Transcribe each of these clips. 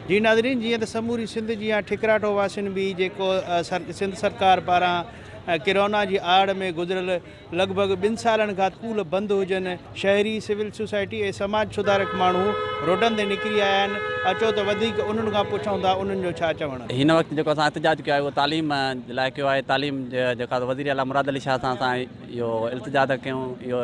جي ناظرين جيئن ته سموري سنڌ جيان ٺڪراٺو واسين به جيڪو سنڌ سرڪار پاران ڪرونا جي آڙ ۾ گذريل لڳ ڀڳ ٻن سالن کان اسڪول بند هجن شهري سول سوسائٽي ۽ سماج سڌارڪ ماڻهو روڊن تي نڪري آيا آهن اچو ته وڌيڪ انهن کان پڇون ٿا انهن جو ڇا چوڻ هن وقت جيڪو اسان احتجاج ڪيو آهي اهو تعليم لاء ڪيو آهي تعليم جيڪا وزير اعليٰ مراد علي شاهه سان اسان اهو التجا ٿا ڪيون اهو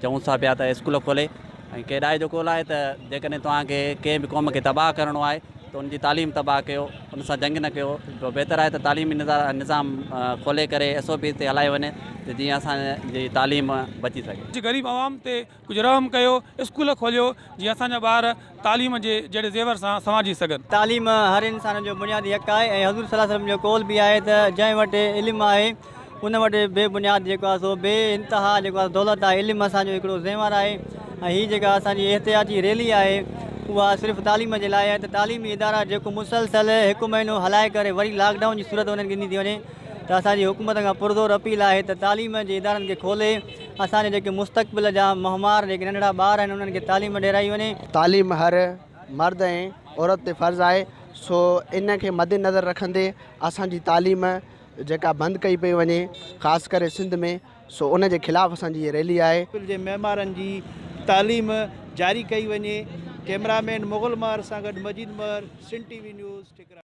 چئون ٿا پيا ته اسڪول کولي ۽ ڪيڏائي جو قول آهي ته جيڪڏهن توهان کي ڪنهن به قوم کي تباهه ڪرڻو آهي ته ان جي تعليم تباهه ڪيو، ان سان جنگ نه ڪيو، بهتر آهي ته تعليمي نظام کولي ڪري ايس او پيز تي هلايو وڃي ته جيئن اسان جي تعليم بچي سگهي. جي غريب عوام تي ڪجهه رحم ڪيو، اسڪول کوليو جيئن اسان جا ٻار تعليم جي جهڙي زيور سان سنوارجي سگهن. تعليم هر انسان جو بنيادي حق آهي ۽ حضور صلي الله عليه وسلم جو قول به آهي ته جنهن وٽ علم آهي. ان وٽ بي بنياد جيڪو آهي سو بي انتها جيڪو آهي دولت آهي علم اسان جو هڪڙو زيور آهي ۽ هي جيڪا اسان جي احتجاجي ريلي آهي اها صرف تعليم جي لاء آهي ته تعليمي ادارا جيڪو مسلسل هڪ مهينو هلائي ڪري وري لاڪ ڊائون جي صورت انهن کي ڏني ٿي وڃي ته اسان جي حڪومت کان پرزور اپيل آهي ته تعليم جي ادارن کي کولي اسان جي جيڪي مستقبل جا مهمار جيڪي ننڍڙا ٻار آهن انهن کي تعليم ڏيرائي وڃي. تعليم هر مرد ۽ عورت تي فرض آهي سو ان کي مدنظر رکندي اسان جي تعليم جيڪا بند ڪئي پئي وڃي خاص ڪري سنڌ ۾ سو ان جي خلاف اسان جي هي ريلي آهي. اسڪول جي معمارن جي تعليم جاري ڪئي وڃي ڪيمرا مين مغل مهر سان گڏ Majeed Mehar Sindh T V news ٺڪراڻ.